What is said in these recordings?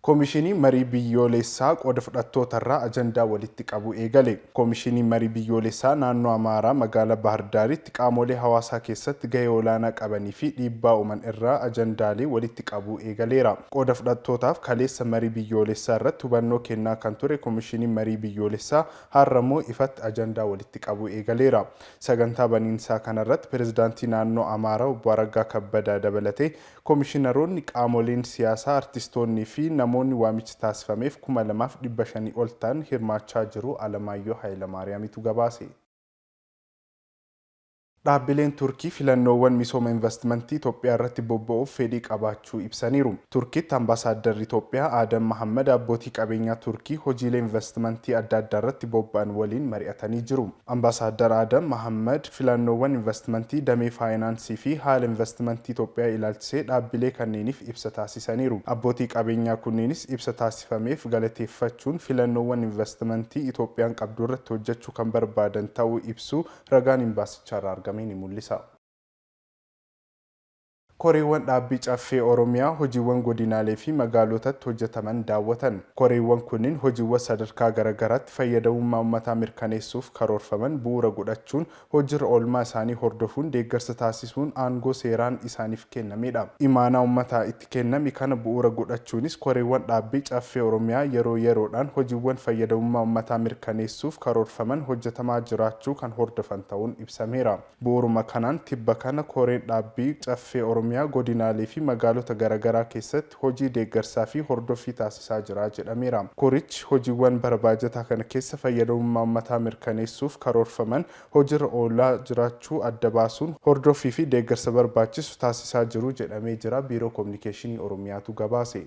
Komishinii Marii Biyyooleessaa qooda fudhattootarraa ajandaa walitti qabuu eegale. Komishinii Marii Biyyooleessaa Naannoo Amaaraa Magaalaa Bahar Daaritti qaamoolee hawaasaa keessatti gahee olaanaa qabanii fi dhiibbaa uuman irraa ajandaalee walitti qabuu eegaleera. Qooda fudhattootaaf kaleessa Marii Biyyooleessaa irratti hubannoo kennaa kan ture Komishiniin Marii Biyyooleessaa har'ammoo ifatti ajandaa walitti qabuu eegaleera. Sagantaa baniinsaa kanarratti Pirezidaantii Naannoo Amaaraa Obbo Araggaa Kabbadaa dabalatee Komishinaroonni, qaamoleen siyaasaa, artistoonnii fi namoonni waamichi taasifameef kuma lamaaf dhibba shanii ol ta'an hirmaachaa jiru Alamaayyoo Hayilamaariyaamitu gabaase. Dhaabbileen Turkii filannoowwan misooma invastimantii Itoophiyaarratti bobba'uuf fedhii qabaachuu ibsaniiru. Turkiitti Ambaasaaddarri Itoophiyaa Aadam Mahaammad abbootii qabeenyaa Turkii hojiilee invastimantii adda addaarratti bobba'an waliin mari'atanii jiru. Ambaasaaddar Aadam Mahaammad, Filannoowwan invastimantii damee faayinaansii fi haala invastimantii Itoophiyaa ilaalchisee dhaabbilee kanneeniif ibsa taasisaniiru. Abbootii qabeenyaa kunneenis ibsa taasifameef galateeffachuun filannoowwan invastimantii Itoophiyaan qabdu irratti hojjechuu kan barbaadan ta'uu ibsuu ragaan Imbaasichaarraa argame ni mul'isa. Koreewwan dhaabbii Caffee Oromiyaa hojiiwwan godinaalee fi magaalootatti hojjetaman daawwatan. Koreewwan kunniin hojiiwwan sadarkaa garaagaraatti fayyadamummaa ummataa mirkaneessuuf karoorfaman bu'uura godhachuun hojiirra oolmaa isaanii hordofuun deeggarsa taasisuun aangoo seeraan isaaniif kennamedha. Imaanaa ummataa itti kenname kana bu'uura godhachuunis koreewwan dhaabbii Caffee Oromiyaa yeroo yeroodhaan hojiiwwan fayyadamummaa ummataa mirkaneessuuf karoorfaman hojjetamaa jiraachuu kan hordofan ta'uun ibsameera. Bu'uuruma kanaan tibba kana koreen dhaabbii Caffee Oromiyaa godinaalee fi magaalota garagaraa keessatti hojii deeggarsaa fi hordoffii taasisaa jira jedhameera. Korichi hojiiwwan bara baajataa kana keessa fayyadamummaa ummataa mirkaneessuuf karoorfaman hojiirra oolaa jiraachuu adda baasuun hordoffii fi deeggarsa barbaachisu taasisaa jiru jedhamee jira Biiroo Kominikeeshinii Oromiyaatu gabaase.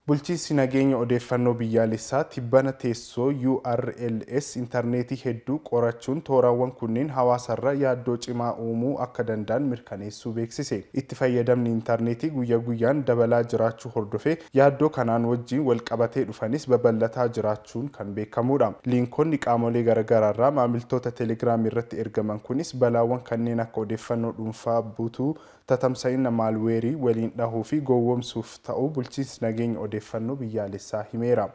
Bulchiinsi Nageenya Odeeffannoo Biyyaalessaa tibbana teessoo URLs intarneetii hedduu qorachuun tooraawwan kunneen hawaasarra yaaddoo cimaa uumuu akka danda'an mirkaneessuu beeksise. Itti fayyadamni intarneetii guyya guyyaan dabalaa jiraachuu hordofee yaaddoo kanaan wajjiin walqabatee dhufanis babal'ataa jiraachuun kan beekamuudha. Liinkonni qaamolee garagaraarraa maamiltoota Telegram irratti ergaman kunis balaawwan kanneen akka odeeffannoo dhuunfaa butuu, tatamsa'inna maalweerii waliin dhahuu fi gowwomsuuf ta'uu Bulchiinsi Nageenya Odeeffannoo Biyyaalessaa himeera.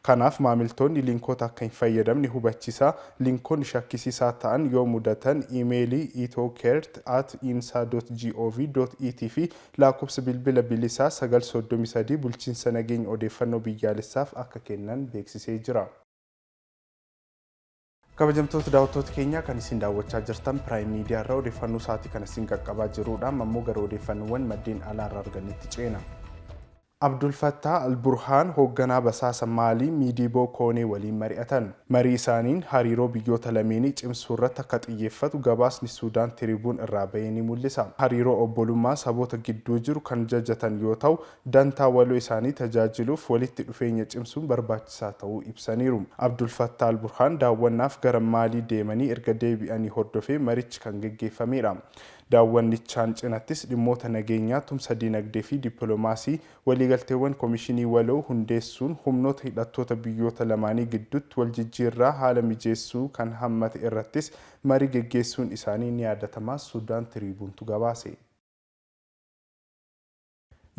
Kanaaf maamiltoonni linkoota akka hin fayyadamne hubachisaa, linkoonni shakkisiisaa ta'an yoo mudatan iimeelii ethocert at insa dot gov dot it fi laakkobsa bilbila bilisaa 933 Bulchiinsa Nageenya Odeeffannoo Biyyaalessaaf akka kennan beeksisee jira. Kabajamtoota daawwattoota keenyaa kan isin daawwachaa jirtan Piraayim Miidiyaa irraa odeeffannoo sa'aatii kana isin qaqqabaa jirudha. Amma immoo gara odeeffannoowwan maddeen alaa irraa argannetti ceena. Abdul Fattah al-Burhaan hoogganaa basaasa Maalii Miidiiboo Koonee waliin mari'atan. Marii isaaniin hariiroo biyyoota lameenii cimsuu irratti akka xiyyeeffatu gabaasni Suudaan Tiribuun irraa bahe ni mul'isa. Hariiroo obbolummaa saboota gidduu jiru kan jajatan yoo ta'u, dantaa waloo isaanii tajaajiluuf walitti dhufeenya cimsuun barbaachisaa ta'uu ibsaniiru. Abdulfattaa Alburhaan daawwannaaf gara Maalii deemanii erga deebi'anii hordofee marichi kan geggeeffameedha. Daawwannichaan cinattis dhimmoota nageenyaa, tumsa dinagdee fi dippilomaasii, waliigalteewwan komishinii waloo hundeessuun humnoota hidhattoota biyyoota lamaanii gidduutti waljijjiirraa haala mijeessuu kan hammate irrattis marii geggeessuun isaanii ni yaadatama Sudan Tribune tu gabaase.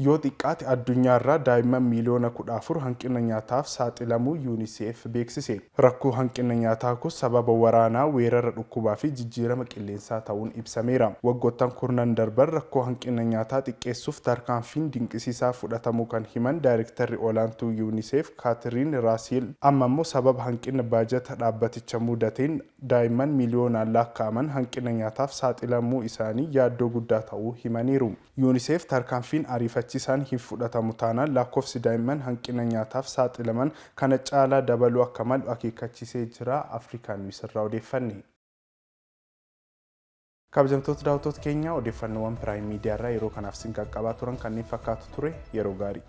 Yoo xiqqaate addunyaarraa daa'imman miiliyoona kudha afur hanqina nyaataaf saaxilamuu Unicef beeksise. Rakkoo hanqina nyaataa kun sababa waraanaa, weerara dhukkubaa fi jijjiirama qilleensaa ta'uun ibsameera. Waggoottan kurnan darban rakkoo hanqina nyaataa xiqqeessuuf tarkaanfiin dinqisiisaa fudhatamuu kan himan Daayrektarri Olaantuu Unicef Kaatiriin Raasiil, amma immoo sababa hanqina baajata dhaabbaticha muudateen daa'imman miiliyoonaan laakka'aman hanqina nyaataaf saaxilamuu isaanii yaaddoo guddaa ta'uu himaniiru. Unicef tarkaanfiin ariifachiisaan hin fudhatamu taanaan lakkoofsi daa'imman hanqina nyaataaf saaxilaman kana caalaa dabaluu akka malu akeekkachiisee jira. Africa News irraa odeeffanne. Kabajamtoota daawwattoota keenya odeeffannoowwan Prime Media irraa yeroo kanaaf isin qaqqabaa turan kanneen fakkaatu ture. Yeroo gaarii.